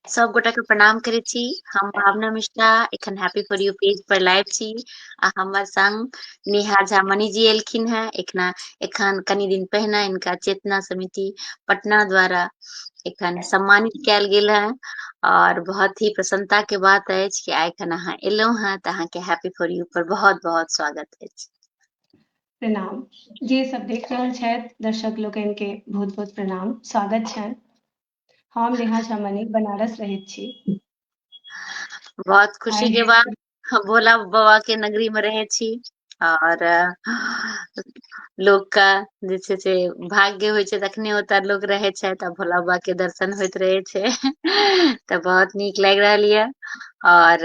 सब गोटा के प्रणाम करे छी हम भावना मिश्रा एखन हैप्पी फॉर यू पेज पर लाइव छी आ हमर संग नेहा झा मणि जी एलखिन हैं एखना एखन कनि दिन पहिने इनका चेतना समिति पटना द्वारा एखन सम्मानित कयल गेल है और बहुत ही प्रसन्नता के बात है कि आइ एखन अहाँ एलहुँ हैं तऽ अहाँके हैप्पी फॉर यू पर बहुत बहुत स्वागत है प्रणाम जे सब देख रहल छथि दर्शक लोकनि के बहुत बहुत प्रणाम स्वागत छनि हम नेहा झा मणि बनारस रहैत छी बहुत खुशी के बात हम भोला बाबा के नगरी में रहे छी और लोग का जे छै से भाग्य होइ छै तखने ओतऽ लोग रहे छै तऽ भोला बाबा के दर्शन होइत रहे छै तऽ बहुत नीक लागि रहल यऽ और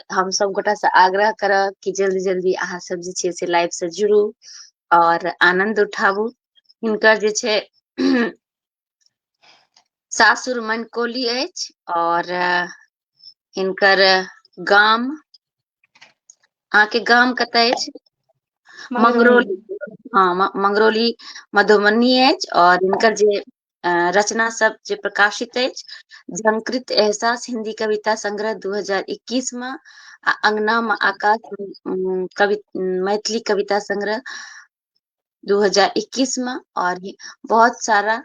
हम सब गोटा से आग्रह करब कि जल्दी जल्दी अहाँ सब जे छै से लाइव से जुड़ू और आनंद उठाबू हिनकर जे छै सासुर मनकोली अछि और हिनकर गाम अहाँके गाम कतय अछि मंगरोली हाँ मंगरोली मधुबनी अछि और हिनकर जे रचना सब जे प्रकाशित अछि झंकृत एहसास हिंदी कविता संग्रह 2021 में आ अंगना में आकाश कवि मैथिली कविता संग्रह 2021 में और बहुत सारा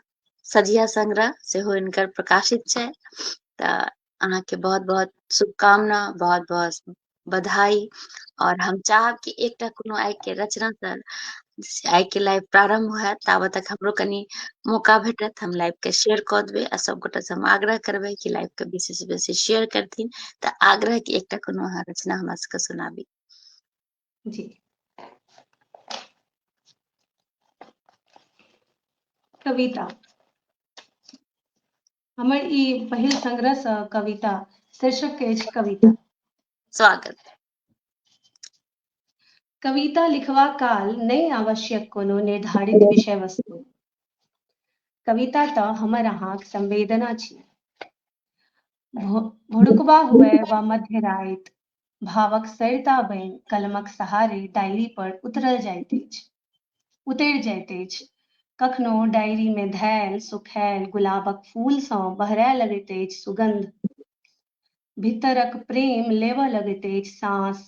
सझिया संग्रह से हो इनकर प्रकाशित है अहाँ के बहुत बहुत शुभकामना बहुत बहुत बधाई और हम चाहब कि एकटा कोनो आय के रचना सर आय के लाइव प्रारंभ हुए तब तक हमरो कनी मौका भेटत हम लाइव के शेयर कऽ देबै आ सबगोटा से हम आग्रह करबै कि लाइव के बेसी से बेसी शेयर करथिन तऽ आग्रह कि एकटा कोनो अहाँ रचना हमरा सबके सुनाबी जी कविता हमर ई पहिल संग्रह सँ कविता शीर्षक अछि कविता स्वागत कविता लिखवा काल नहि आवश्यक कोनो निर्धारित विषय वस्तु कविता तऽ हमर अहाँक संवेदना छी भोरुकबा हुए वा मध्य राति भावक सरिता बनि कलमक सहारे डायरी पर उतरल जाइत अछि उतरि जाइत अछि कखनो डायरी में धैल सुखैल गुलाबक फूल सँ बहरय लगैत अछि सुगंध भीतरक प्रेम लेबऽ लगैत अछि साँस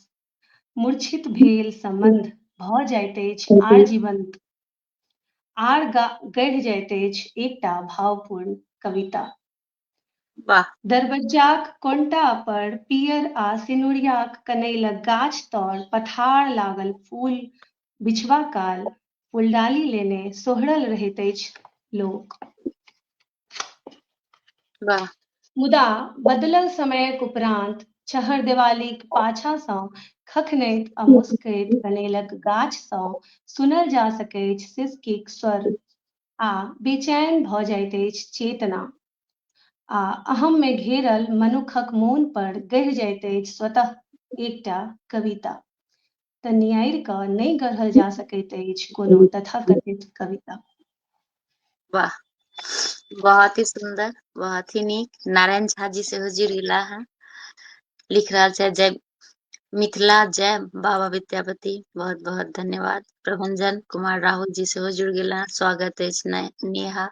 मूर्छित भेल संबंध भऽ जाइत अछि आर जीवंत आर गढ़ि जाइत अछि एकटा भावपूर्ण कविता वाह दरबज्जाक कोंटा पर पीयर आ सिनुरियाक कनैलक गाछ तौर पथार लागल फूल बिछबा काल फूलडाली लेने सोहरल रहैत अछि लोक। वाह मुदा बदलल समयक उपरान्त छहरदेवालीक पाछा सँ खखनैत आ मुस्कैत कनैलक गाछ सँ सुनल जा सकैछ सिसकीक स्वर। आ बेचैन भऽ जाइत अछि चेतना। आ अहम् मे घेरल मनुक्खक मोन पर गढ़ि जाइत अछि स्वतः एकटा कविता। तँ नियारि कऽ नहि गढ़ल जा सकैत अछि कोनो तथाकथित कविता। वाह बहुत ही सुंदर बहुत ही नीक नारायण झा जी सेहो जुड़ि गेला हँ लिख रहल छथि जय मिथिला जय बाबा विद्यापति बहुत बहुत धन्यवाद प्रभंजन कुमार राहुल जी सेहो जुड़ गेल स्वागत अछि नेहा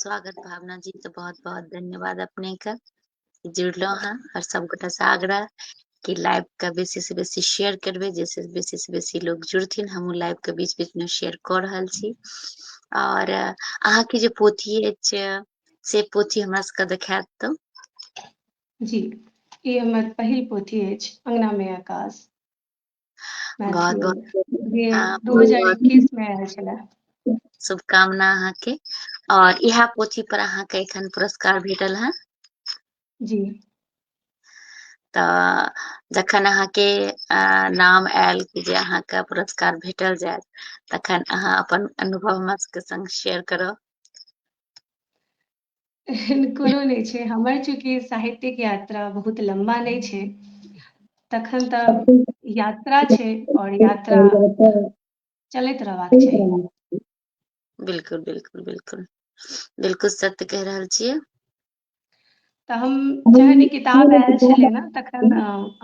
स्वागत भावना जी तो बहुत बहुत धन्यवाद अपने के जुड़लो हैं और सबगोटा से आग्रह कि लाइव का बेसी से बेसी शेयर करबे जैसे बेसी से बेसी लोग जुड़थिन हम लाइव के बीच बीच में शेयर कर रहा छी और अहा के जो पोथी है से पोथी हमरा सबके देखायत तो जी ई हमर पहिल पोथी अछि अंगना में आकाश बहुत बहुत दू हजार इक्कीस में आयल छला शुभकामना अहाँ के और यह पोथी पर अहाँ के एखन पुरस्कार भेटल है जी तो जखन अहाँ के नाम आयल कि जे अहाँ के पुरस्कार भेटल जाए तखन अहाँ अपन अनुभव हमरा सबके संग शेयर करब एहन कोनो नहि छै हमर चूँकि साहित्यिक यात्रा बहुत लम्बा नहि छै तखन तऽ यात्रा छै और यात्रा चलैत रहबाक चाही बिल्कुल बिल्कुल बिल्कुल बिल्कुल सत्य कह रहल छियै तऽ हम जहन ई किताब आयल छलै ने तखन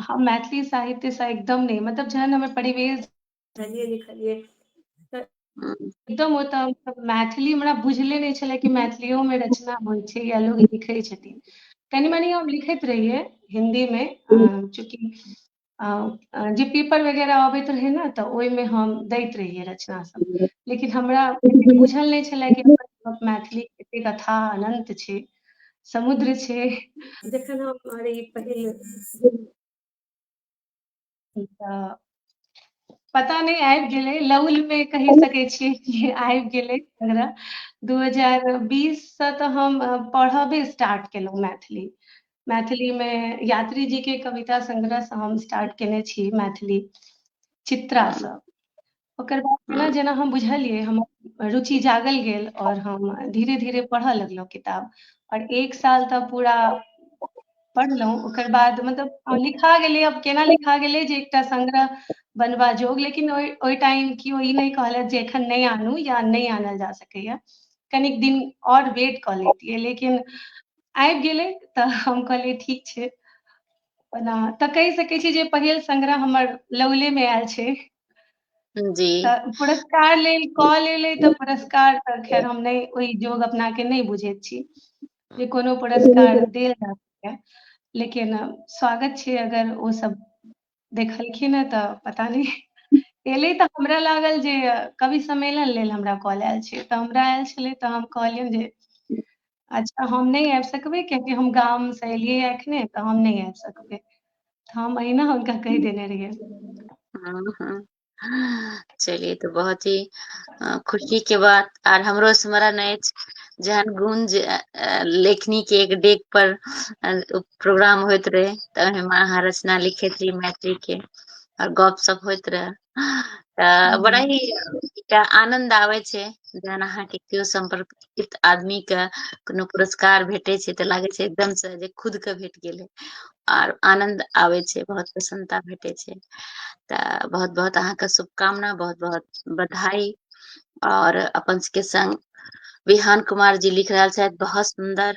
हम मैथिली साहित्यसँ एकदम नहि मतलब जहन हमर परिवेश पढ़लियै लिखलियै एकदम ओ तऽ मतलब मैथिली हमरा बुझले नहि छलै कि मैथिलियोमे रचना होइ छै या लोग लिखै छथिन कनि मनि हम लिखैत रहियै हिन्दीमे चूँकि जे पेपर वगैरह अबैत रहै ने तऽ ओहिमे हम दैत रहियै रचना सब लेकिन हमरा एते बुझल नहि छलै कि मैथिली एते कथा अनंत छै समुद्र छै जखन हम अरे ई पहिल पता नहीं आबि गेलै लौल में कहि सके छियै कि आबि गेलै हमरा दू हजार बीससँ तऽ हम पढ़बे स्टार्ट केलहुँ मैथिली मैथिलीमे यात्री जीके कविता संग्रहसँ हम स्टार्ट केने छी मैथिली चित्रासँ ओकर बाद जेना जेना हम बुझलियै हमर रुचि जागल गेल और हम धीरे धीरे पढ़ऽ लगलहुँ किताब और एक साल तऽ पूरा पढ़लहुँ ओकर बाद मतलब लिखा गेलै अब केना लिखा गेलै जे एकटा संग्रह बनबा जोग लेकिन ओहि ओहि टाइम केओ ई नहि कहलथि जे एखन नहि आनू या नहि आनल जा सकैए कनिक दिन और वेट कऽ लेतियै लेकिन आबि गेलै तऽ हम कहलियै ठीक छै ओना तऽ कहि सकैत छी जे पहिल संग्रह हमर लौलेमे आयल छै जी पुरस्कार लेल कऽ लेलै तऽ पुरस्कार तऽ खैर हम नहि ओहि जोग अपना के नहि बुझैत छी जे कोनो पुरस्कार देल जा सकैए लेकिन स्वागत छै अगर ओ सब देखलखिन हेँ तऽ पता नहि एलै तऽ हमरा लागल जे कवि सम्मेलन लेल हमरा कॉल आयल छै तऽ हमरा आयल छलै तऽ हम कहलियनि जे अच्छा हम नहि आबि सकबै कियाकि हम गामसँ एलियै एखने तऽ हम नहि आबि सकबै तऽ हम अहिना हुनका कहि देने रहियै हँ हँ चलिए तऽ बहुत ही अ, खुशी के बात आर हमरो स्मरण अछि जहन गुंज अ, अ, लेखनी के एक डेग पर अ, प्रोग्राम होइत रहे तऽ ओहिमे अहाँ रचना लिखैत रही मैथिली के और गप सप होइत रहे तऽ बड़ा ही एकटा आनंद आबै छै जहन अहाँके केओ सम्पर्कित आदमी के कोनो पुरस्कार भेटै छै तऽ लागै छै एकदम से जे खुद के भेट गेलै आर आनंद आबै छै बहुत प्रसन्नता भेटै छै तऽ बहुत बहुत अहाँके शुभकामना बहुत बहुत बधाई और अपन सबके संग विहान कुमार जी लिख रहल छथि बहुत सुंदर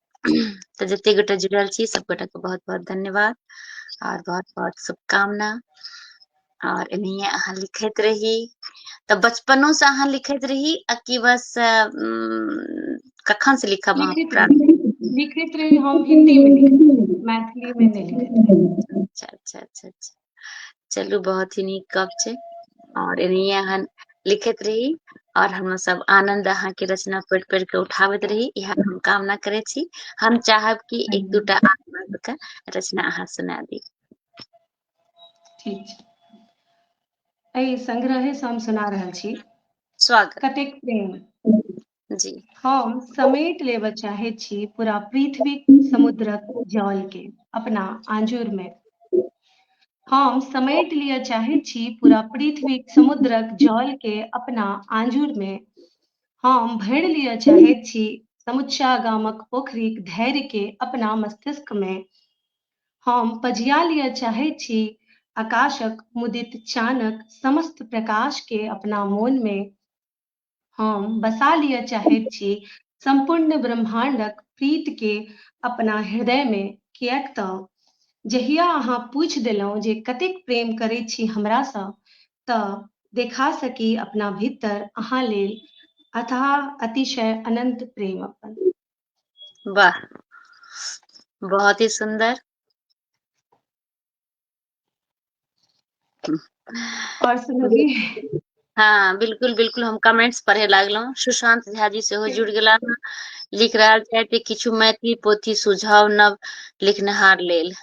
तऽ जते गोटा जुड़ल छी सब गोटा के बहुत बहुत धन्यवाद और बहुत बहुत शुभकामना और इन्हें अहाँ लिखत रही तऽ बचपनो से अहाँ लिखत रही आ कि बस कखन से लिखब अहाँ लिखत रही हम हिंदी में मैथिली में नहीं लिखत अच्छा अच्छा अच्छा अच्छा चलू बहुत ही नीक गप छै और एनाहिए अहाँ लिखैत रही और हम सब आनंद अहाँ के रचना पढ़ि पढ़ि के उठाबैत रही इएह हम कामना करे छी हम चाहब कि एक दूटा आत्मा के रचना अहाँ सुना दी ठीक छै एहि संग्रहे से हम सुना रहल छी स्वागत कतेक प्रेम जी हम समेट लेबऽ चाहे छी पूरा पृथ्वी समुद्रक जल के अपना आंजुर में हम समेट लिया चाहे छी पूरा पृथ्वी समुद्रक जल के अपना आंजुर में हम भर लिया चाहे छी समुच्चा गामक पोखरी धैर्य के अपना मस्तिष्क में हम पजिया लिया चाहे छी आकाशक मुदित चानक समस्त प्रकाश के अपना मोन में हम बसा लिअ चाहैत छी सम्पूर्ण ब्रह्माण्डक प्रीतकेँ अपना हृदयमे, किएक तँ जहिया अहाँ पूछि देलहुँ जे कतेक प्रेम करैत छी हमरासँ तँ देखा सकी अपना भीतर अहाँ लेल अथाह, अतिशय, अनन्त प्रेम अपन। वाह बहुत ही सुंदर और सुनोगी हाँ बिल्कुल बिल्कुल हम कमेंट्स पढ़े लागलहुँ सुशांत झा जी सेहो जुड़ गेला लिख रहल छथि किछु मैथिली पोथी सुझाव नव लिखनिहार लेल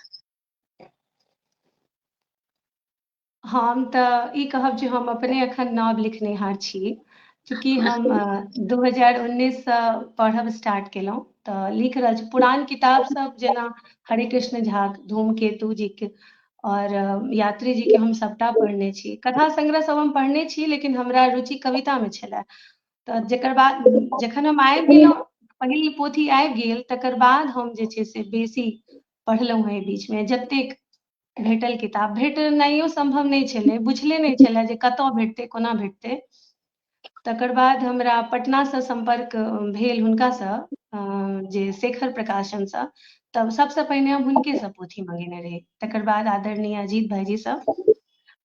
हम तऽ ई कहब जे हम अपने अखन नव लिखनिहार छी चूँकि हम दू हजार उन्नैससँ पढ़ब स्टार्ट केलहुँ तऽ लिख रहल छी पुरान किताब सब जेना हरे कृष्ण झा धूमकेतु जी के और यात्री जी के हम सभटा पढ़ने छी कथा संग्रह सब हम पढ़ने छी लेकिन हमरा रुचि कविता में छले तऽ जकर बाद जखन हम आबि गेलहुँ पहिल पोथी आबि गेल तकर बाद हम जे छै से बेसी पढ़लहुँ हेँ एहि बीचमे जतेक भेटल किताब भेटनाइयो सम्भव नहि छलै बुझले नहि छलै जे कतय भेटतै कोना भेटतै तकर बाद हमरा पटनासँ सम्पर्क भेल हुनकासँ जे शेखर प्रकाशनसँ तब सभसँ पहिने हम हुनकेसँ पोथी मङ्गेने रही तकर बाद आदरणीय अजीत भाइजीसँ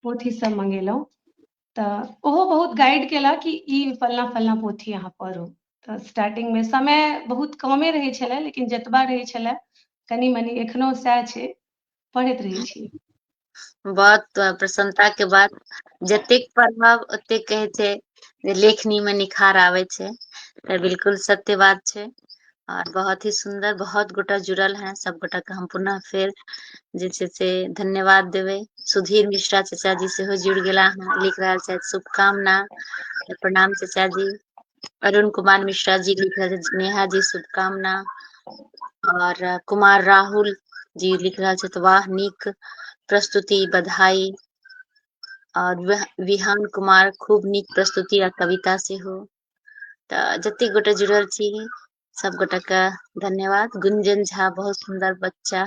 पोथीसभ मङ्गेलहुँ तऽ ओहो बहुत गाइड केला कि ई फलना फलना पोथी अहाँ पढ़ू तऽ स्टार्टिंगमे समय बहुत कमे रहै छलै लेकिन जतबा रहै छलै कनि मनि एखनो सएह छै पढ़ैत रहै छी बहुत प्रसन्नता के बात जतेक पढ़ब ओतेक कहै छै जे लेखनी मे निखार आबै छै तऽ बिल्कुल सत्य बात छै आओर बहुत ही सुन्दर बहुत गोटा जुड़ल हैं सब गोटा के हम पुनः फेर जे छै से धन्यवाद देबै सुधीर मिश्रा चाचा जी सेहो जुड़ि गेला हँ लिख रहल छथि शुभकामना प्रणाम चाचा जी अरुण कुमार मिश्रा जी लिख रहल छथि नेहा जी शुभकामना और अ, कुमार राहुल जी लिख रहल छथि वाह नीक प्रस्तुति बधाई और वह- विहान कुमार खूब नीक प्रस्तुति आ कविता सेहो तऽ जतेक गोटा जुड़ल छी सब गोटा के धन्यवाद गुंजन झा बहुत सुन्दर बच्चा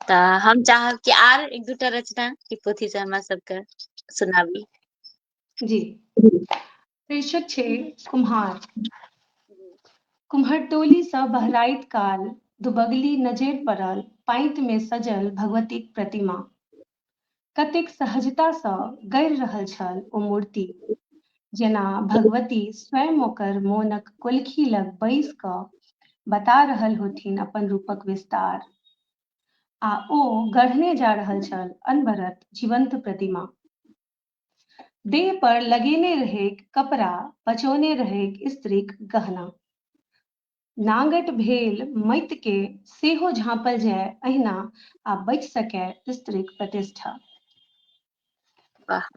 तऽ हम चाहब कि आर एक दूटा रचना ई पोथी से हमरा सबके सुनाबी जी शीर्षक छै कुम्हार कुम्हर टोली से बहराइत काल दुबगली नजर पड़ल पाइत में सजल भगवती प्रतिमा कतेक सहजतासँ गड़ि रहल छल ओ मूर्ति जेना भगवती स्वयं ओकर मोनक कोलखी लग बैस कऽ बता रहल होथिन अपन रूपक विस्तार आ ओ गढ़ने जा रहल छल अनवरत जीवंत प्रतिमा देह पर लगेने रहेक कपड़ा पचौने रहेक स्त्रीक गहना नांगट भेल मइत के सेहो झांपल जाय अहिना आ बचि सकय स्त्रीक प्रतिष्ठा वाह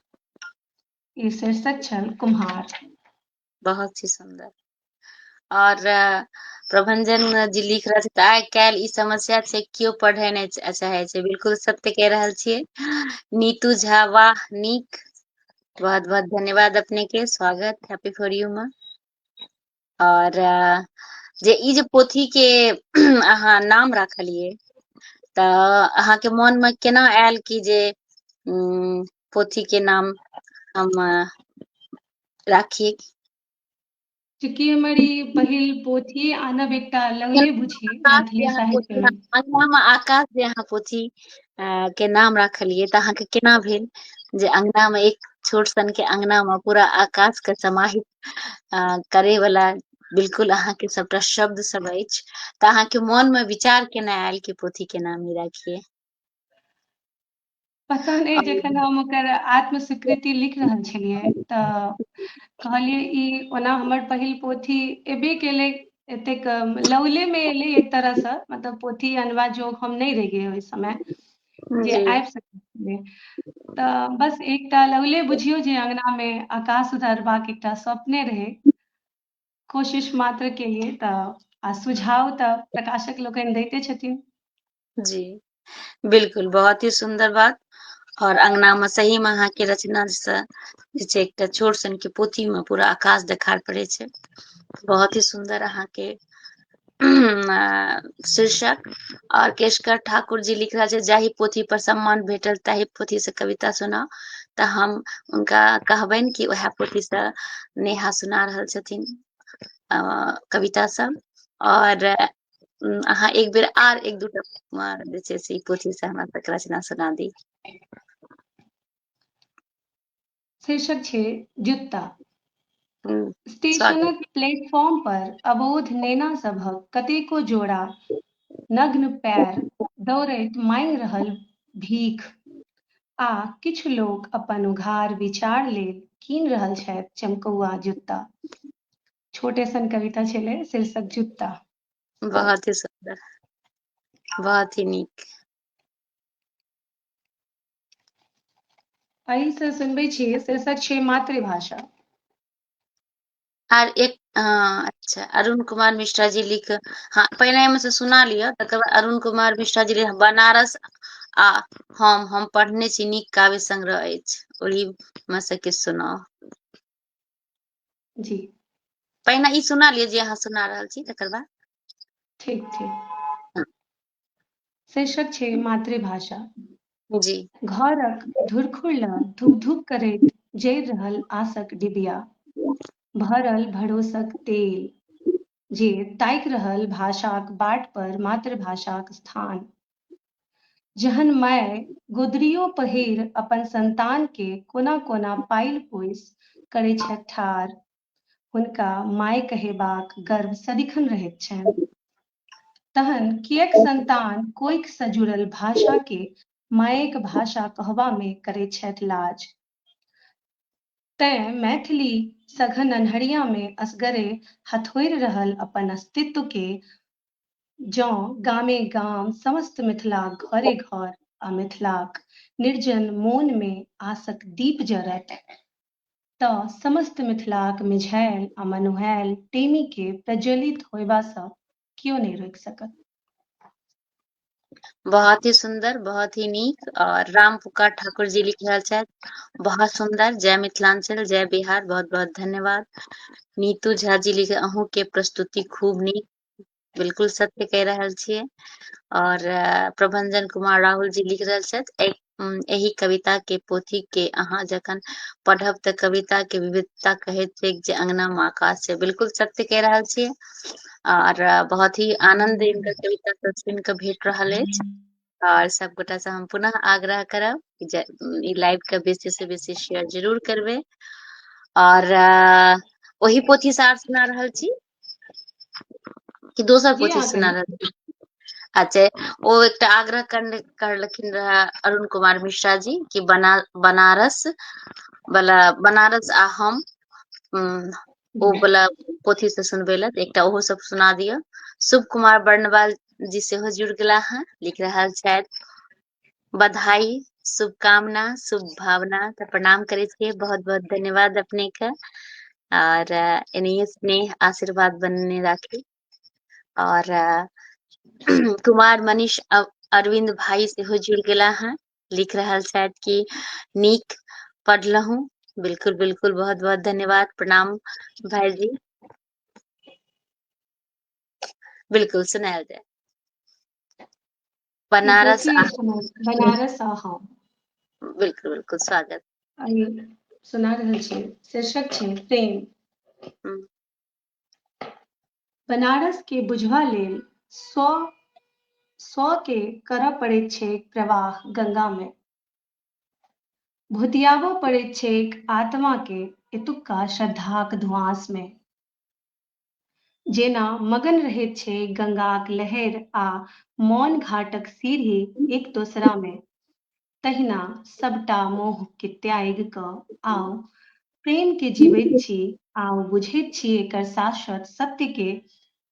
ई शीर्षक छल कुम्हार बहुत ही सुंदर और प्रभंजन जी लिख रहे थे आइ काल्हि ई समस्या छै केओ पढ़े नहि चाहे छै बिल्कुल सत्य कह रहल छियै नीतू झा वाह नीक बहुत बहुत धन्यवाद अपने के स्वागत हैप्पी फॉर यू माँ और जे ई जे पोथी के अहाँ नाम राखलिए त अहाँ के मन में केना आयल कि जे उम, पोथी के नाम हम राखी चूँकि हमर ई पहिल पोथी आनब एकटा लगे बुझी मैथिली साहित्य में अंगना में आकाश जे अहाँ पोथी अ, के नाम राखलिए त अहाँ के केना भेल जे अंगना में एक छोट सन के अंगना में पूरा आकाश के समाहित अ करे वला बिलकुल अहाँके सभटा शब्द सब अछि तऽ अहाँके मोन मे विचार केना आयल कि पोथी के नाम ई राखिए पता नहि जखन हम ओकर आत्म स्वीकृति लिख रहल छलियै तऽ कहलियै ई ओना हमर पहिल पोथी एबे केलै एतेक लौले मे एलै एक तरहसँ मतलब पोथी अनबा जोग हम नहि रहियै ओहि समय जे आबि सकैए तऽ बस एकटा लगले बुझियौ जे अङ्गनामे आकाश सुधारबाक एकटा स्वप्ने रहै कोशिश मात्र केलिए तऽ आ सुझाव तऽ प्रकाशक लोकनि दैते छथिन जी बिल्कुल बहुत ही सुंदर बात और अंगना में सही में अहाँ के रचना से जे छै एकटा छोट सन के पोथी में पूरा आकाश देखार पड़े छै बहुत ही सुंदर अहाँ के शीर्षक आओर केशकर ठाकुर जी लिख रहल छै जाहि पोथी पर सम्मान भेटल ताहि पोथी से कविता सुना तऽ हम उनका कहबनि कि उएह पोथी से नेहा सुना रहल छथिन कविता सब और अहाँ एक बेर आर एक दूटा जे छै से पोथी से हमरा तक रचना सुना दी शीर्षक छै जुत्ता स्टेशनक प्लेटफॉर्म पर अबोध नेना सभक कतेको जोड़ा नग्न पैर दौड़ैत मांगि रहल भीख आ किछु लोक अपन उघार विचार लेल कीन रहल छथि चमकौआ जुत्ता छोटे सन कविता छलै शीर्षक जुत्ता बहुत ही सुंदर बहुत ही नीक एहि से सुनबे छी शीर्षक छै मातृभाषा आर एक हाँ, अच्छा अरुण कुमार मिश्रा जी लिख हाँ पहले हम से सुना लिया तकर बाद अरुण कुमार मिश्रा जी लिख बनारस आ हम हम पढ़ने छी नीक काव्य संग्रह अछि ओहि में से किछु सुनाउ जी पहिने ई सुना लिअ जे अहाँ सुना रहल छी तकर बाद ठीक ठीक शीर्षक छै मातृभाषा जी घरक धुरखुर लग धुक धुक करैत जरि रहल आशक डिबिया भरल भरोसक तेल जे ताकि रहल भाषाक बाट पर मातृभाषाक स्थान जहन माय गोदरियो पहिर अपन संतान के कोना कोना पाइल पोइस करै छथि ठार हुनका माय कहेबाक गर्व सदिखन रहैत छनि। तहन किएक संतान कोइख सँ जुड़ल भाषा केँ मायेक भाषा कहबा मे करैत छथि लाज। तैं मैथिली सघन अन्हरिया मे असगरे हथोड़ि रहल अपन अस्तित्व केँ जँ गामे-गाम, समस्त मिथिलाक घरे-घर आ मिथिलाक निर्जन मोन मे आसक दीप जरत तँ समस्त मिथिलाक मिझाएल आ मनुहाएल टेमीकेँ प्रज्वलित होएबासँ कियो नहि रोकि सकत। बहुत ही सुंदर बहुत ही नीक और राम पुकार ठाकुर जी लिख रहा छथि बहुत सुंदर जय मिथिलांचल जय बिहार बहुत बहुत धन्यवाद नीतू झा जी लिखे अहूँ के प्रस्तुति खूब नीक बिलकुल सत्य कहि रहल छियै और प्रभंजन कुमार राहुल जी लिख रहल छथि एहि कविता के पोथी के अहाँ जखन पढ़ब तऽ कविता के विविधता कहैत छै जे अंगना मे आकाश छै बिलकुल सत्य कहि रहल छियै और बहुत ही आनंद इनकर कविता सब सुन के भेट रहल अछि और सब गोटा से हम पुनः आग्रह करब ई लाइव के बेसी से बेसी शेयर जरूर करबे और ओही पोथी से आर सुना रहल छी कि दोसर पोथी सुना रहल अच्छा ओ एकटा आग्रह करलखिन रह अरुण कुमार मिश्रा जी कि बना बनारस वाला बनारस आ हम ओ वाला पोथी से सुनबे लत एकटा ओहो सब सुना दिया शुभ कुमार बर्णवाल जी से जुड़ गला है लिख रहा शायद बधाई शुभकामना शुभ भावना तऽ प्रणाम करै छियै बहुत बहुत धन्यवाद अपने के और एनाहिए स्नेह आशीर्वाद बनने राखी और कुमार मनीष अरविंद भाई सेहो जुड़ गया है लिख रहा शायद कि नीक पढ़लहु बिल्कुल बिल्कुल बहुत बहुत धन्यवाद प्रणाम भाई जी बिल्कुल सुनायल जाए बनारस आ बनारस आ हम बिल्कुल बिल्कुल स्वागत आइ सुना रहल छी शीर्षक छै प्रेम हम्म। बनारस के बुझबा लेल सौ सौ के करऽ पड़ैत छैक प्रवाह गंगा मे भुतियाबऽ पड़ैत छैक आत्मा के एतुक्का श्रद्धाक धुआंस मे जेना मगन रहैत छै गंगाक लहरि आ मौन घाटक सीढ़ी एक दोसरामे तहिना सभटा मोहकेँ त्यागि कऽ आउ प्रेमकेँ जीबैत छी आउ बुझैत छी एकर शाश्वत सत्यकेँ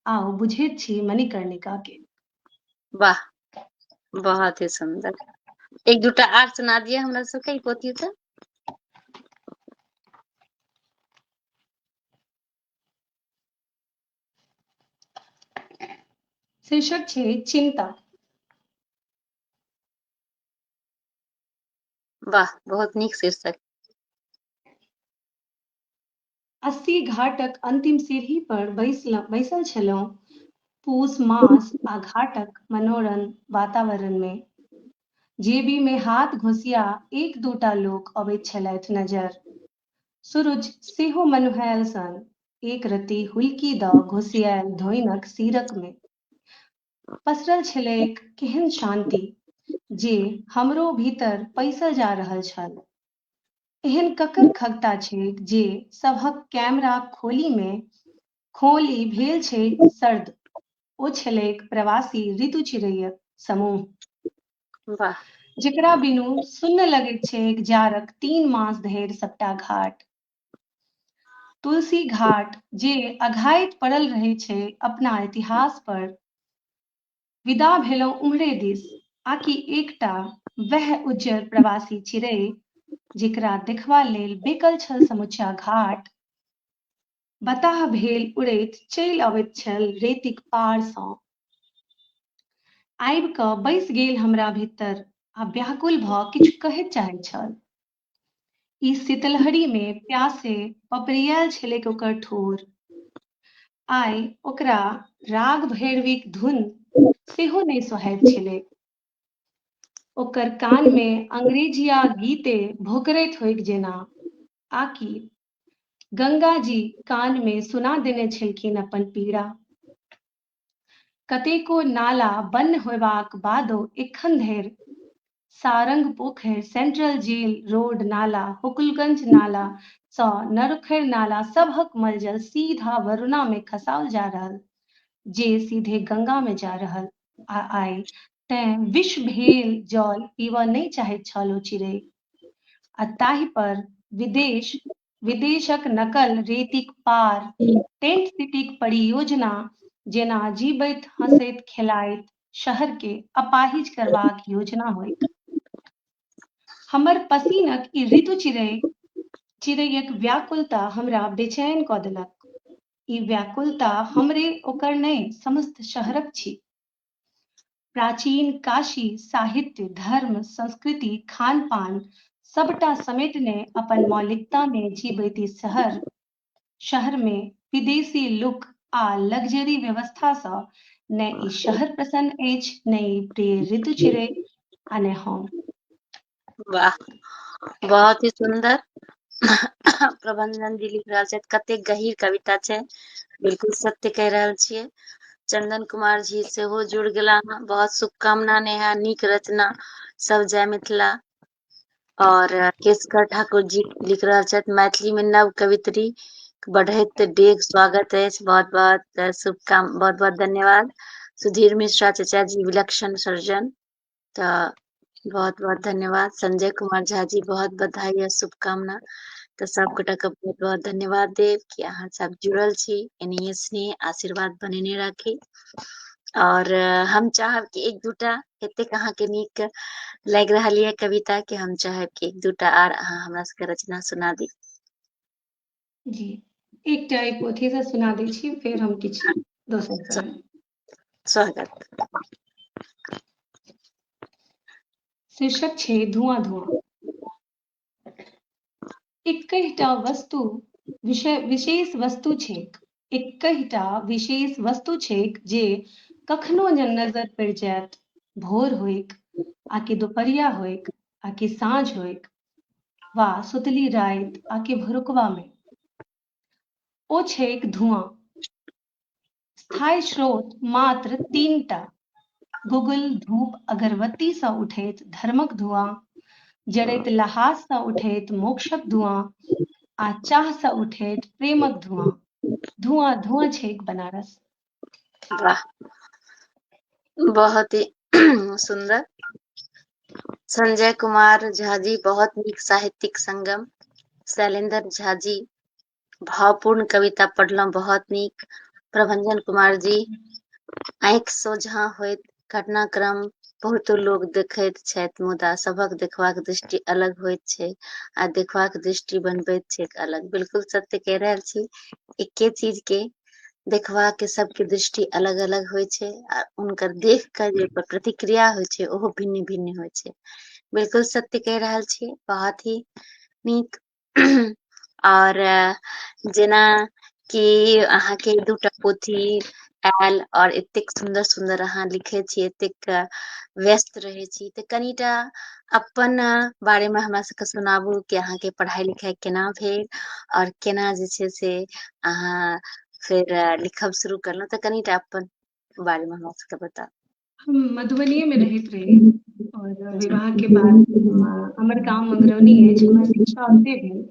आउ बुझैत छी मणिकर्णिकाकेँ। वाह बहुत ही सुंदर एक दूटा आर सुना दिए हमरा सबके ई पोथी से શીર્ષક છે ચિંતા વાહ बहुत नीक शीर्षक अस्सी घाटक अंतिम सीढ़ी पर बैस बैसल छलहुँ पूस मास आ घाटक मनोरम वातावरण में जेबी में हाथ घोसिया एक दूटा लोक अबैत छलथि नजर सुरुज सेहो मनुहायल सन एक रति हुलकी द घुसियायल धोइनक सीरक में पसरल छलैक केहन शांति जे हमरो भीतर पैसल जा रहल छल एहन ककर खगता छैक जे सभक कैमरा खोली में खोली भेल छै सर्द ओ छलैक प्रवासी ऋतु चिड़ैय समूह वाह जेकरा बिनु सुन्न लगैत छैक जाड़क तीन मास धरि सबटा घाट तुलसी घाट जे अघाइत पड़ल रहै छै अपना इतिहास पर विदा भेलहुँ उम्हरे दिस आकि एकटा वह उज्जर प्रवासी चिड़ै जेकरा देखबा लेल बेकल छल समुचा घाट बताह भेल उड़ैत चलि अबैत छल रेतिक पारसँ आबि कऽ बैस गेल हमरा भीतर आ व्याकुल भऽ किछु कहय चाहै छल ई शीतलहरीमे प्यासे पपरियाल छलैक ओकर ठोर आइ ओकरा राग भैरवीक धुन सेहो नहि सोहैत छलैक ओकर कानमे अंग्रेजिया गीते भोकरैत होइक जेना आकि गंगा जी कान में सुना देने छलखिन अपन पीड़ा कतेको नाला बन्न होयबाक बादो एखन धरि Sarang Pokhari central jail road नाला हुकुलगंज नाला सँ नरुखैर नाला सभक मलजल सीधा वरुणा में खसाओल जा रहल जे सीधे गंगा में जा रहल आ आइ तैं विष भेल जल पीबऽ नहि चाहैत छल ओ चिड़ै। आ ताहि पर विदेश, विदेशक नकल रेतीक पार, टेंट सिटीक परियोजना जेना जीबैत, हँसैत, खेलाइत शहर के अपाहिज करबाक योजना होइक। हमर पसीनक ई ऋतु चिड़ै, चिड़ैयक व्याकुलता हमरा बेचैन कऽ देलक। ई व्याकुलता हमरे ओकर नहि, समस्त शहरक छी। प्राचीन काशी साहित्य धर्म संस्कृति खान पान सबटा समेटने अपन मौलिकता मे जीवैती शहर शहर मे विदेशी लुक आ लग्जरी व्यवस्था से ने ई शहर प्रसन्न अछि ने ई प्रिय ऋतु चिरे आ ने हम वाह बहुत ही सुंदर प्रबंधन जी लिख रहल छथि कते गहीर कविता छै बिल्कुल सत्य कह रहल छियै चंदन कुमार जी सेहो जुड़ गेला बहुत शुभकामना नेहा नीक रचना सब जय मिथिला और केशकर ठाकुर जी लिख रहा छथि मैथिली में नव कवित्री बढ़ैत डेग स्वागत है बहुत बहुत शुभकाम बहुत बहुत धन्यवाद सुधीर मिश्रा चचा जी विलक्षण सर्जन तऽ बहुत बहुत धन्यवाद संजय कुमार झा जी बहुत बधाई या शुभकामना तऽ सबगोटा के बहुत बहुत धन्यवाद देव कि अहाँ सब जुड़ल छी एनाहिए स्नेह आशीर्वाद बनेने राखी और हम चाहब कि एक दूटा एतेक अहाँके नीक लागि रहल यऽ कविता के हम चाहब कि एक दूटा आर अहाँ हमरा सबके रचना सुना दी जी एकटा एक पोथी से सुना दै छी फेर हम किछु दोसर स्वागत शीर्षक छै धुआं धुआं एकहिटा वस्तु विषय विशेष वस्तु छैक एकहिटा विशेष वस्तु छैक जे कखनो जे नजर पड़ि जायत भोर होइक आकि दुपहरिया होइक आकि साँझ होइक वा सुतली राति आकि भुरुकवा मे ओ छैक धुआं स्थायी स्रोत मात्र तीन टा गुगुल धूप अगरबत्ती सा उठैत धर्मक धुआं जड़ैत लहास सा उठैत मोक्षक धुआं आ चाह सा उठैत प्रेमक धुआं धुआं धुआं छैक बनारस बहुत ही सुंदर संजय कुमार झा जी बहुत नीक साहित्यिक संगम शैलेंद्र झा जी भावपूर्ण कविता पढ़लहुँ बहुत नीक प्रभंजन कुमार जी आँखि सोझा होइत घटनाक्रम बहुतो लोक देखैत छथि मुदा सभक देखबाक दृष्टि अलग होइत छै आ देखबाक दृष्टि बनबैत छै अलग बिल्कुल सत्य कहि रहल छी एके चीज के देखबा के सबके दृष्टि अलग अलग होइ छै आ उनकर देख के जे प्रतिक्रिया होइ छै ओहो भिन्न भिन्न होइ छै बिल्कुल सत्य कहि रहल छी बहुत ही नीक आओर जेना कि अहाँके दूटा पोथी आयल आओर एतेक सुन्दर सुन्दर अहाँ लिखै छी एतेक व्यस्त रहै छी तऽ कनिटा अपन बारेमे हमरा सबके सुनाबू कि अहाँके पढ़ाइ लिखाइ केना भेल आओर केना जे छै से अहाँ फेर लिखब शुरू करलहुँ तऽ कनिटा अपन बारेमे हमरा सबके बताउ हम मधुबनीए मे रहैत रही आओर विवाह के बाद हमर गाम मगरौनी अछि हमर शिक्षा ओते भेल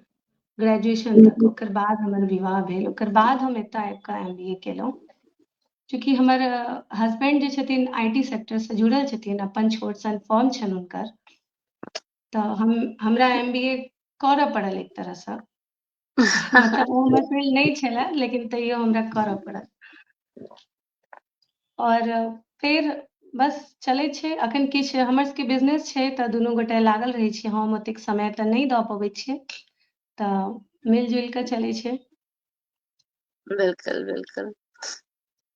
ग्रेजुएशन तक ओकर बाद हमर विवाह भेल ओकर बाद हम एतय आबि कऽ एम बी ए केलहुँ चूँकि हमर हस्बैंड जे छथिन आई टी सेक्टरसँ जुड़ल छथिन अपन छोट सन फॉर्म छनि हुनकर तऽ हम हमरा एम बी ए करऽ पड़ल एक तरहसँ मतलब ओ हमर फील्ड नहि छलए लेकिन तैयो हमरा करऽ पड़ल आओर फेर बस चलै छै अखन किछु हमर सबके बिजनेस छै तऽ दुनू गोटे लागल रहै छी हम ओतेक समय तऽ नहि दऽ पबै छियै तऽ मिलजुल कऽ चलै छै बिल्कुल बिल्कुल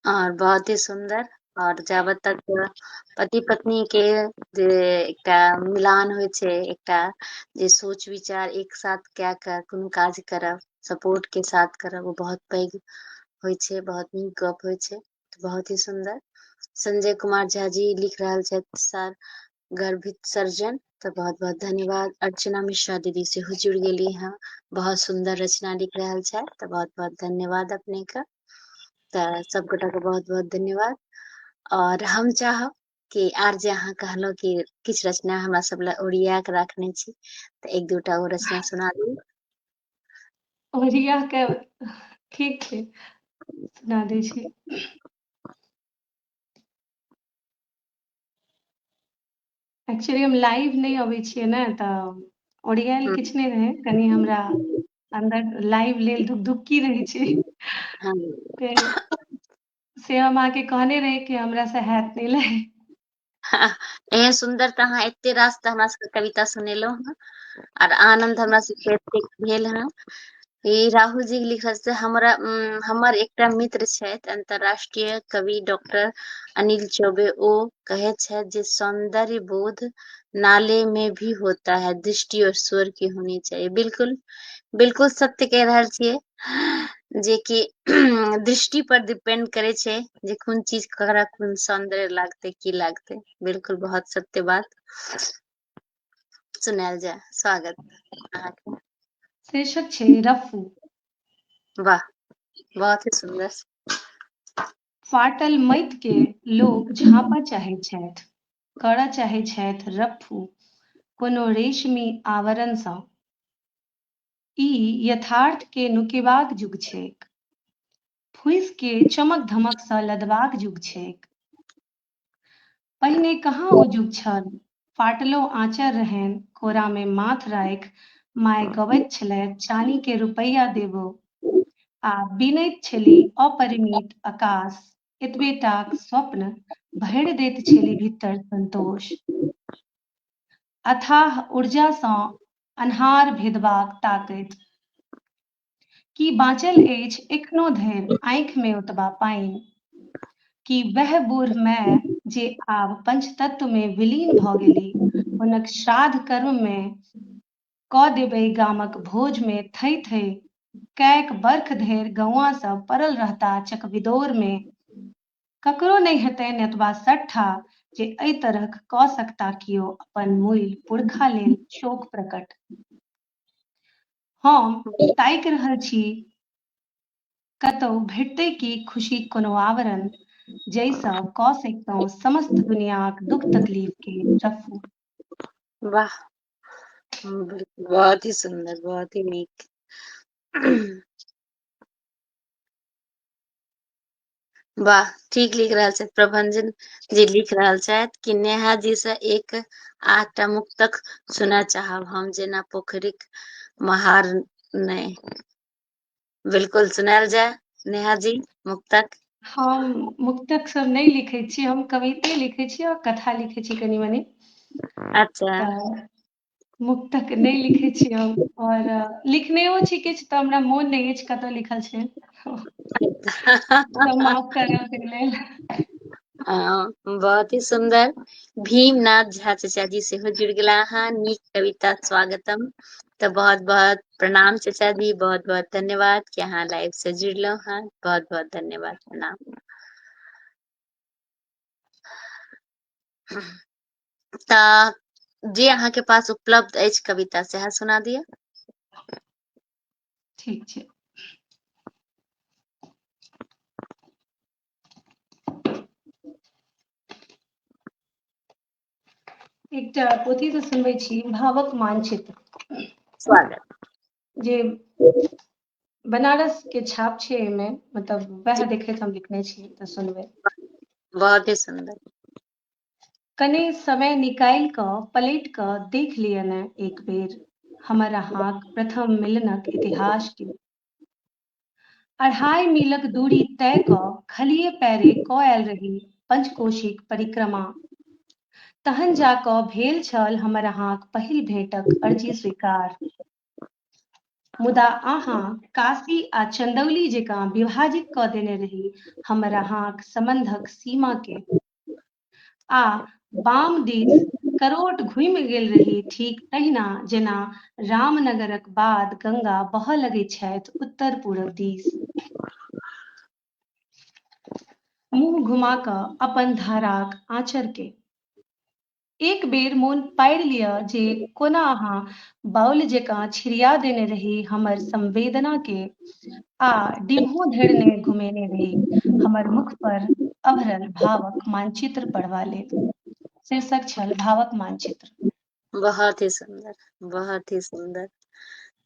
और बहुत ही सुंदर और जाबे तक पति पत्नी के जे एकटा मिलान होइ छै एकटा जे सोच विचार एक साथ कए कऽ कोनो काज करब सपोर्ट के साथ करब ओ बहुत पैघ होइ छै बहुत नीक गप होइ छै बहुत ही सुंदर संजय कुमार झा जी लिख रहल छथि सर गर्भित सर्जन तो बहुत बहुत धन्यवाद अर्चना मिश्रा दीदी से हो जुड़ गई है बहुत सुंदर रचना लिख रहा है तो बहुत बहुत धन्यवाद अपने का तो सब गोटा को बहुत बहुत धन्यवाद और हम चाह कि आर जे अहाँ कहलो कि किछ रचना हमरा सब ला ओरिया के रखने छी तो एक दूटा वो रचना सुना दी ओरिया के ठीक छै सुना दै छी एक्चुअली हम लाइव नहि अबै छियै ने तऽ ओरियाएल हम्म। किछु नहि रहै कनि हमरा अंदर लाइव लेल धुकधुक्की रहै छै हाँ, फेर से हम अहाँके कहने रही कि हमरा से हैत नहि लाइव एहन सुन्दर तऽ अहाँ एते रास तऽ हमरा सबके कविता सुनेलहुँ हँ आर आनंद हमरा सबके एते भेल हँ ई राहुल जी के लिखल से हमरा उम, हमर एकटा मित्र छथि अंतर्राष्ट्रीय कवि डॉक्टर अनिल चौबे ओ कहे छथि जे सौंदर्य बोध नाले में भी होता है दृष्टि और स्वर की होनी चाहिए बिल्कुल बिल्कुल सत्य कह रहल छियै जे कि दृष्टि पर डिपेंड करे छै जे कोन चीज ककरा कोन सौंदर्य लागते की लागते बिल्कुल बहुत सत्य बात सुनायल जाय स्वागत अहाँके शीर्षक छै रफू वाह बहुत ही सुंदर फाटल मैत के लोग झापा चाहे छथि करऽ चाहे छथि रफू कोनो रेशमी आवरण सँ ई यथार्थ के नुकेबाक जुग छैक। फुसि के चमक धमक सँ लदबाक जुग छैक। पहिने कहाँ ओ जुग छल। फाटलो आँचर रहैन कोरा मे माथ राखि माय गबैत छलैथ चानी के रुपैया देबो आ बीनैत छेली अपरिमित अकास एतबेटाक स्वप्न भैड़ दैत छेली भित्तर संतोष। अथाह ऊर्जा सँ अन्हार भेदबाक ताकैत। की बाँचल अछि एखनो धरि आँखि मे ओतबा पानि? की वैह बूढ़ माए जे आब पंचतत्व मे विलीन भऽ गेली, हुनक श्राद्ध कर्म मे कऽ देबय गामक भोज मे थै-थै कैक बर्ख धरि गौआँ सभ पड़ल रहताह चकविदोर मे ककरो नहि हेतैन एतबा सट्ठा जे एहि तरहक कऽ सकता कियो अपन मूल पुरखा लेल शोक प्रकट। हम ताकि रहल छी कतहु भेटतै कि खुशीक कोनो आवरण जाहिसँ कऽ सकितहुँ समस्त दुनियाँक दुख तकलीफ के रफ्फू। वाह बहुत ही सुन्दर बहुत ही नीक। वाह ठीक लिख रहल छथि प्रभंजन जी लिख रहल छथि कि नेहा जी से एक आठटा मुक्तक सुना चाहब हम जेना पोखरिक महार नहि बिल्कुल सुनायल जाय नेहा जी मुक्तक हम मुक्तक सब नहि लिखै छी हम कविते लिखै छी और कथा लिखै छी कनी मनी अच्छा मुक्तक नहि लिखै छी हम और लिखनेओ छी किछु तऽ हमरा मोन नहि अछि कतऽ लिखल छै तऽ माफ करब तै लेल हँ बहुत ही सुन्दर भीम नाथ झा चचा जी सेहो जुड़ गेला अहाँ नीक कविता स्वागतम तऽ बहुत बहुत प्रणाम चचा जी बहुत बहुत धन्यवाद कि अहाँ लाइव से जुड़लहुँ हँ बहुत बहुत धन्यवाद प्रणाम तऽ जे अहाँके पास उपलब्ध अछि कविता सएह सुना दिअ ठीक छै एकटा पोथी से सुनबै छी भावक मानचित्र स्वागत जे बनारस के छाप छै एहिमे मतलब वएह देखैत हम लिखने छी तऽ सुनबै बहुत ही सुन्दर कने समय निकालि कऽ पलटि कऽ देख लिअ ने एक बेर हमर अहाँक प्रथम मिलनक इतिहास के अढ़ाई मीलक दूरी तय कऽ खलिए पैरे कऽ आयल रही पंचकोशीक परिक्रमा तहन जा कऽ भेल छल हमर अहाँक पहिल भेंटक अर्जी स्वीकार मुदा अहाँ काशी आ चंदौली जकाँ विभाजित कऽ देने रही हमर अहाँक सम्बन्धक सीमा के आ बाम दिस करोट घुमि गेल रही ठीक तहिना जेना रामनगरक बाद गंगा बहऽ लगै छथि उत्तर पूरब दिस मुँह घुमा कऽ अपन धाराक आँचर के एक बेर मोन पाड़ि लिअ जे कोना अहाँ बाउल जेकाँ छिड़िया देने रही हमर संवेदना के आ डिम्हो धरि ने घुमेने रही हमर मुख पर अभरल भावक मानचित्र पढ़बा लेल। शीर्षक छल भावक मानचित्र। बहुत ही सुंदर बहुत ही सुंदर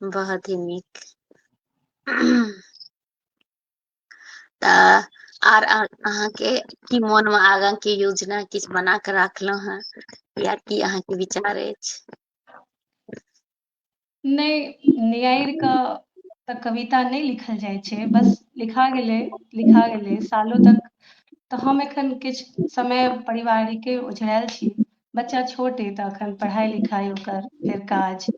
बहुत ही नीक तऽ आर अहाँके की मोन मे आगाँ के योजना किछु बना कऽ राखलहुँ हेँ या की अहाँके विचार अछि नहि नियाइर के तऽ कविता नहि लिखल जाइ छै बस लिखा गेलै लिखा गेलै सालो तक तऽ हम एखन किछु समय पारिवारिके ओझराल छी बच्चा छोट अ तऽ एखन पढ़ाइ लिखाइ ओकर फेर काज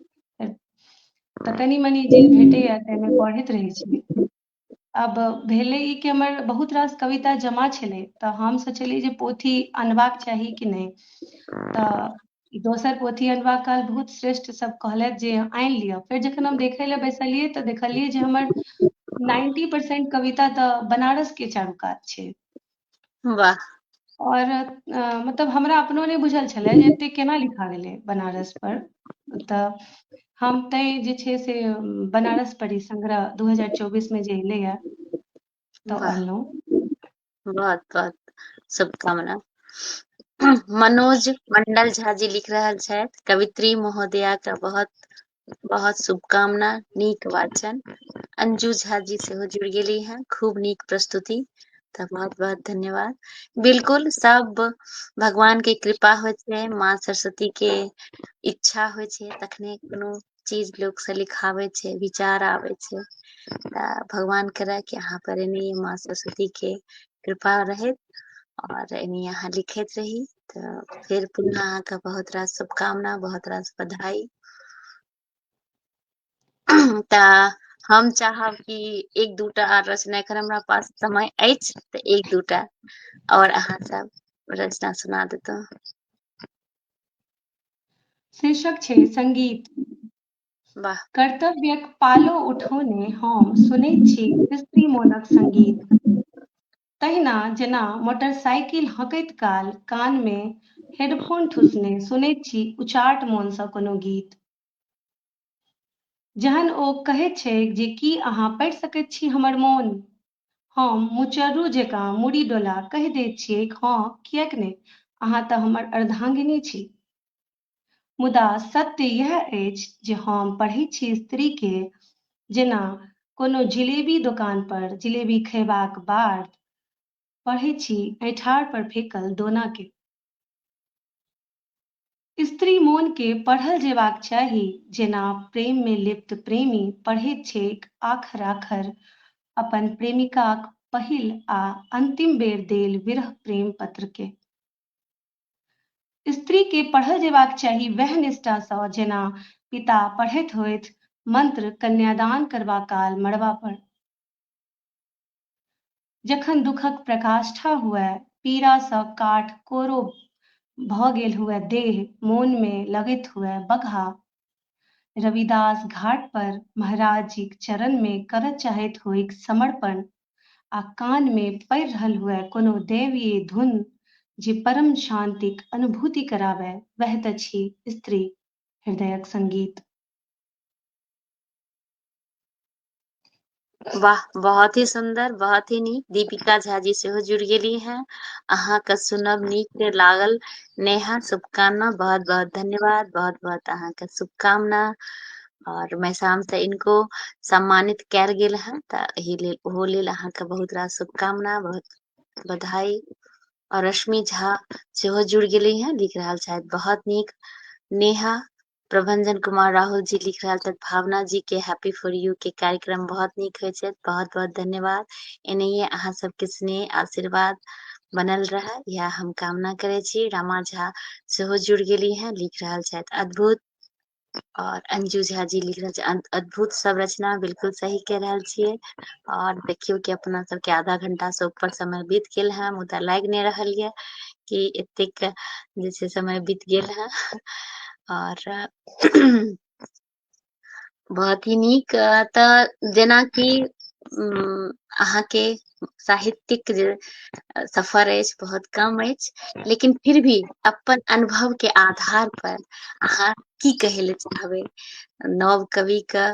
तऽ कनि मनि जे भेटैए ताहिमे पढ़ैत रहैत छी अब भेलै ई कि हमर बहुत रास कविता जमा छलै तऽ हम सोचलियै जे पोथी अनबाक चाही कि नहि तऽ दोसर पोथी अनबाक काल बहुत श्रेष्ठ सब कहलथि जे आनि लिअ फेर जखन हम देखै लए बैसलियै तऽ देखलियै जे हमर नाइन्टी परसेंट कविता तऽ बनारस के चारू कात छै वाह और मतलब हमरा अपनो नहि बुझल छलै जे एते केना लिखा गेलै बनारस पर तऽ हम तै जे छै से बनारस पढ़ी संग्रह दू हजार चौबीस मे जे एलैए तऽ अनलहुँ बहुत बहुत शुभकामना मनोज मंडल झा जी लिख रहल छथि कवित्री महोदया के बहुत बहुत शुभकामना नीक वाचन अंजू झा जी सेहो जुड़ गेली हैं खूब नीक प्रस्तुति तऽ बहुत बहुत धन्यवाद बिल्कुल सब भगवान के कृपा होइ छै माँ सरस्वती के इच्छा होइ छै तखने कोनो चीज लोक से लिखाबै छै विचार आबै छै तऽ भगवान करे कि अहाँ पर एने माँ सरस्वती के कृपा रहैत और एनी यहाँ लिखित रही तो फिर पुनः अहाँ के बहुत रास शुभकामना बहुत रास बधाई ता हम चाहब कि एक दूटा आर रचना एखन हमरा पास समय अछि तऽ एक दूटा और अहाँ सब रचना सुना देतहुँ शीर्षक छै संगीत वाह कर्तव्यक पालो उठौने हम सुनैत छी स्त्री मोनक संगीत तहिना जेना मोटरसाइकिल हँकैत काल कानमे हेडफोन ठुसने सुनैत छी उचाट मोनसँ कोनो गीत। जहन ओ कहैत छैक जे की अहाँ पढ़ि सकैत छी हमर मोन? हम मुचर्रू जेकाँ मुड़ी डोला कहि दैत छियैक हँ किएक ने, अहाँ तँ हमर अर्धांगिनी छी। मुदा सत्य यैह अछि जे हम पढ़ैत छी स्त्रीकेँ जेना कोनो जिलेबी दोकानपर जिलेबी खयबाक बाद पढ़ैत छी ऐंठारपर फेकल दोनाकेँ। स्त्री मोनकेँ पढ़ल जेबाक चाही जेना प्रेममे लिप्त प्रेमी पढ़ैत छैक आखर-आखर अपन प्रेमिकाक पहिल आ अन्तिम बेर देल विरह प्रेम पत्रकेँ। स्त्रीके पढ़ल जेबाक चाही वैह निष्ठासँ जेना पिता पढ़ैत होथि मन्त्र कन्यादान करबा काल मड़बा पर। जखन दुखक प्रकाष्ठा हुअए, पीड़ासँ काठ कोरो भऽ गेल हुअए देह, मोनमे लगैत हुअए बगहा। रविदास घाट पर महाराजजीक चरणमे करऽ चाहैत होइक समर्पण। आ कान मे पड़ि रहल हुए कोनो दैवीय धुन जे परम शांतिक अनुभूति कराबए वएह तँ छी स्त्री हृदयक संगीत। वाह बहुत ही सुंदर बहुत ही नीक दीपिका झा जी सेहो जुड़ गेली हैं अहाँ के सुनब नीक लागल नेहा शुभकामना बहुत बहुत धन्यवाद बहुत बहुत अहाँ के शुभकामना और मैसाम से इनको सम्मानित कैल गेल है त एहि लेल ओहो लेल अहाँ के बहुत रास शुभकामना बहुत बधाई और रश्मि झा सेहो जुड़ गेले हैं लिख रहा शायद बहुत नीक नेहा प्रभंजन कुमार राहुल जी लिख रहा छथि भावना जी के हैप्पी फॉर यू के कार्यक्रम बहुत नीक होइ छै बहुत बहुत धन्यवाद एनाहिए अहाँ सबके स्नेह आशीर्वाद बनल रहे यह हम कामना करे छी रामा झा सेहो जुड़ गेली हैं लिख रहा शायद अद्भुत और अंजू झा जी लिख रहल छै अद्भुत संरचना बिलकुल सही कह रहल छियै और देखियौ कि अपना सबके आधा घंटा से ऊपर समय बीत गेल है मुदा लागि नहि रहल ये कि एतेक जे छै समय बीत गेल है और बहुत ही नीक तऽ जेनाकि अहाँके साहित्यिक जे सफर अछि बहुत कम अछि लेकिन फिर भी अपन अनुभव के आधार पर अहाँ की कहे ले चाहबे नव कवि के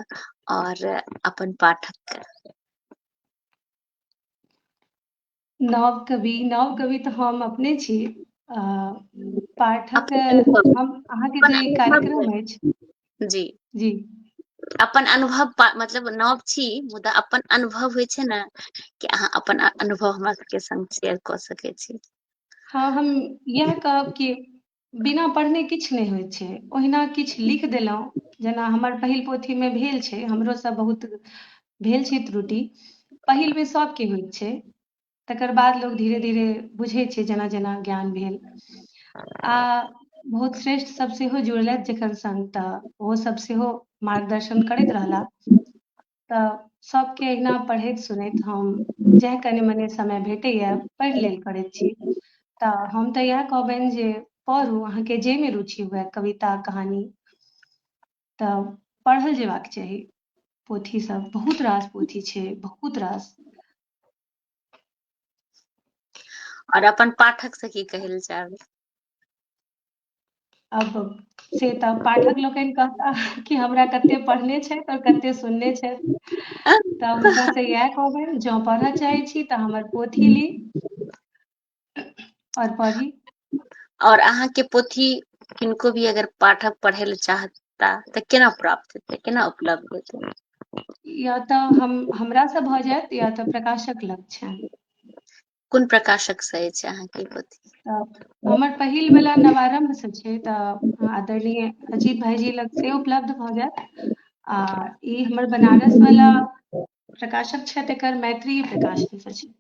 और अपन पाठक के नव कवि नव कवि तो हम अपने छी पाठक हम अहाँके जे कार्यक्रम अछि जी जी अपन अनुभव पा- मतलब नव छी मुदा अपन अनुभव होइ छै ने कि अहाँ अपन अ- अनुभव हमरा सबके संग शेयर कऽ सकै छी हँ हम इएह कहब कि बिना पढ़ने किछु नहि होइ छै ओहिना किछु लिख देलहुँ जेना हमर पहिल पोथीमे भेल छै हमरोसँ बहुत भेल छै त्रुटि पहिलमे सभके होइत छै तकर बाद लोग धीरे धीरे बुझै छै जेना जेना ज्ञान भेल आ बहुत श्रेष्ठ सब सेहो जुड़लथि जखन संग तऽ ओहो सब सेहो मार्गदर्शन करैत रहला तऽ सबके अहिना पढ़ैत सुनैत हम जएह कनि मने समय भेटैए पढ़ि लेल करैत छी तऽ हम तऽ इएह कहबनि जे पढ़ू अहाँके जाहिमे रुचि हुए कविता कहानी तऽ पढ़ल जेबाक चाही पोथी सब बहुत रास पोथी छै बहुत रास और अपन पाठक से की कहल चाहबे अब से तऽ पाठक लोकनि कहता कि हमरा कते पढ़ने छथि और कते सुनने छथि तऽ हुनका से इएह कहबनि जँ पढ़ऽ चाहै छी तऽ हमर पोथी ली और पढ़ी और अहाँ के पोथी किनको भी अगर पाठक पढ़े ले चाहता तो केना प्राप्त हेतै केना उपलब्ध हेतै या तो हम हमरा से भ जायत या तो प्रकाशक लग छै कोन प्रकाशक से अछि अहाँ के पोथी तऽ हमर पहिल वाला नवारंभ से छै तऽ आदरणीय अजीत भाईजी लग से उपलब्ध भ जायत आ ई हमर बनारस वाला प्रकाशक छै तेकर मैत्री प्रकाशन से छै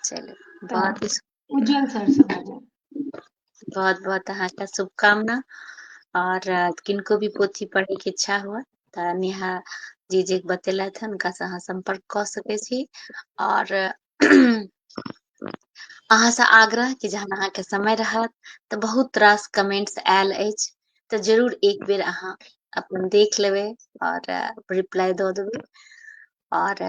चलू तऽ बहुत उज्जैन शहर से बाजब बहुत बहुत अहाँके शुभकामना और किनको भी पोथी पढ़े के इच्छा हुए तऽ नेहा जी जे बतेलथि हन हुनकासँ अहाँ सम्पर्क कऽ सकै छी और अहाँसँ आग्रह कि जहन अहाँके समय रहत तऽ बहुत रास कमेंट्स आयल अछि तऽ जरूर एक बेर अहाँ अपन देख लेबै और रिप्लाई दऽ देबै आओर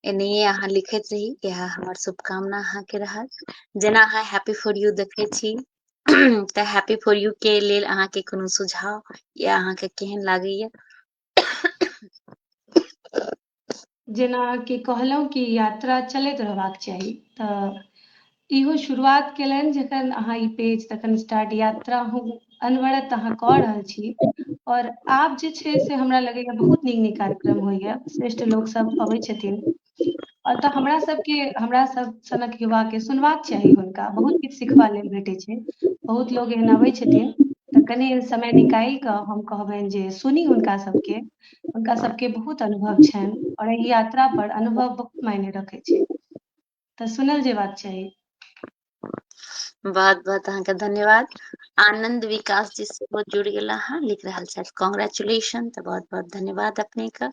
एनाहिए अहाँ लिखैत रही इएह हमर शुभकामना अहाँके रहत जेना अहाँ हैप्पी फॉर यू देखै छी तऽ हैप्पी फॉर यू के लेल अहाँके कोनो सुझाव या अहाँके केहन लागैए जेना कि कहलहुँ कि यात्रा चलैत रहबाक चाही तऽ इहो शुरुआत केलनि जखन अहाँ ई पेज तखन स्टार्ट यात्रा हम अनवरत अहाँ कऽ रहल छी आओर आब जे छै से हमरा लगैए बहुत नीक नीक कार्यक्रम होइए श्रेष्ठ लोकसभ अबै छथिन आओर तऽ हमरा सभके हमरा सभ सनक युवाके सुनबाक चाही हुनका बहुत किछु सिखबा लेल भेटै छै बहुत लोक एहन अबै छथिन तऽ कनि समय निकालि कऽ हम कहबनि जे सुनी हुनका सभके हुनका सभके बहुत अनुभव छनि आओर एहि यात्रा पर अनुभव बहुत मायने रखै छै तऽ सुनल जेबाक चाही बहुत बहुत अहाँके धन्यवाद आनंद विकास जी सेहो जुड़ गेला हँ लिख रहल छथि कॉन्ग्रेचुलेशन तऽ बहुत बहुत धन्यवाद अपने के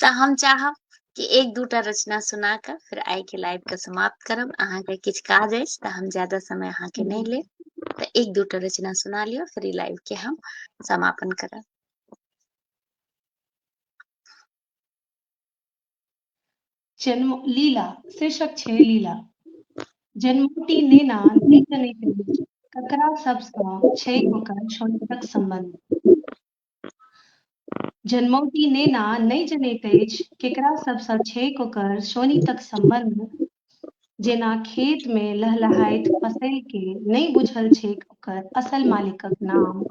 तऽ हम चाहब कि एक दूटा रचना सुना कऽ फिर आइ के लाइव के समाप्त करब अहाँके किछु काज अछि तऽ हम ज्यादा समय अहाँके नहि लेब तऽ एक दूटा रचना सुना लिअ फिर ई लाइव के हम समापन करब जन्म लीला शीर्षक छै लीला जन्मोटी नेना ककरा सबसँ छै ओकर छोटक संबंध जन्मौटी नेना नहि जनैत अछि केकरा सबसँ छै ओकर सोनी तक संबंध जेना खेत में लहलहाइत फसल के नहि बुझल छै ओकर असल मालिकक नाम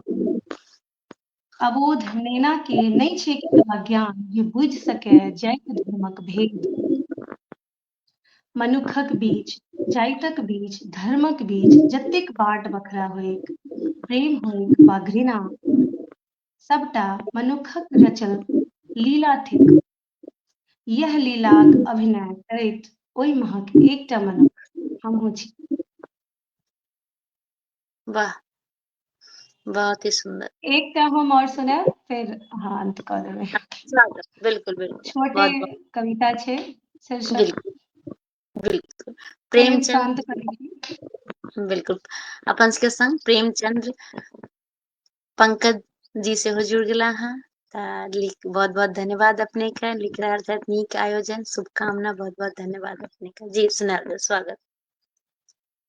अबोध नेना के नहि छै केतबा ज्ञान जे बुझि सकै जाइत धर्मक भेद मनुखक बीच जाइतक बीच धर्मक बीच जतेक बाट बखरा होइक प्रेम होइक वा घृणा सबटा मनुखक रचल लीला थिक यह लीलाक अभिनय करैत ओहि महक एकटा मनुख हमहूँ छी वाह बहुत ही सुंदर एकटा हम और सुनाएब फेर अहाँ अंत क देबै अच्छा, बिल्कुल बिल्कुल छोटे बहुत बहुत कविता छै शीर्षक बिल्कुल बिल्कुल प्रेम प्रेमचंद शांत कविता बिल्कुल अपन सबके संग प्रेमचंद्र पंकज जी सेहो जुड़ गेला अहाँ तऽ लिख बहुत बहुत धन्यवाद अपने के लिख रहल छथि नीक आयोजन शुभकामना बहुत बहुत धन्यवाद अपने के जी सुनाएल जाउ, स्वागत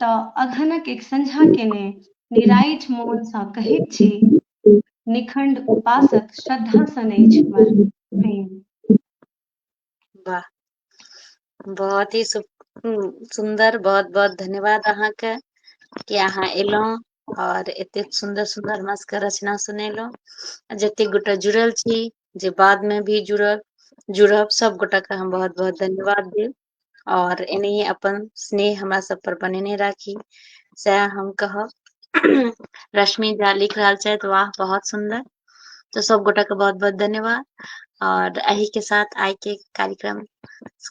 त अगहनक एक संझा केने निराइठ मोन सँ कहैत छी निखंड उपासक श्रद्धा सन अछि हमर प्रेम। वाह बहुत ही सु, सुंदर बहुत बहुत धन्यवाद अहाँ के कि अहाँ एलहुँ और एते सुंदर सुंदर हमरा सबके रचना सुनेलहुँ आ जते गोटा जुड़ल छी जे बाद में भी जुड़ब जुड़ब सब गोटा के हम बहुत बहुत धन्यवाद देब और एनाहिए अपन स्नेह हमरा सब पर बनेने राखी सएह हम कहब रश्मि झा लिख रहल छथि वाह बहुत सुंदर तो सब गोटा के बहुत बहुत धन्यवाद और अही के साथ आय के कार्यक्रम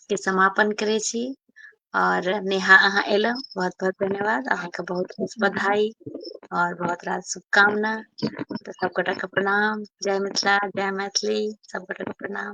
के समापन करे छी और नेहा अहाँ एलहुँ बहुत बहुत धन्यवाद अहाँके बहुत बहुत बधाई और बहुत रात शुभकामना तो सब गोटा के प्रणाम जय मिथिला जय मैथिली सब गोटा के प्रणाम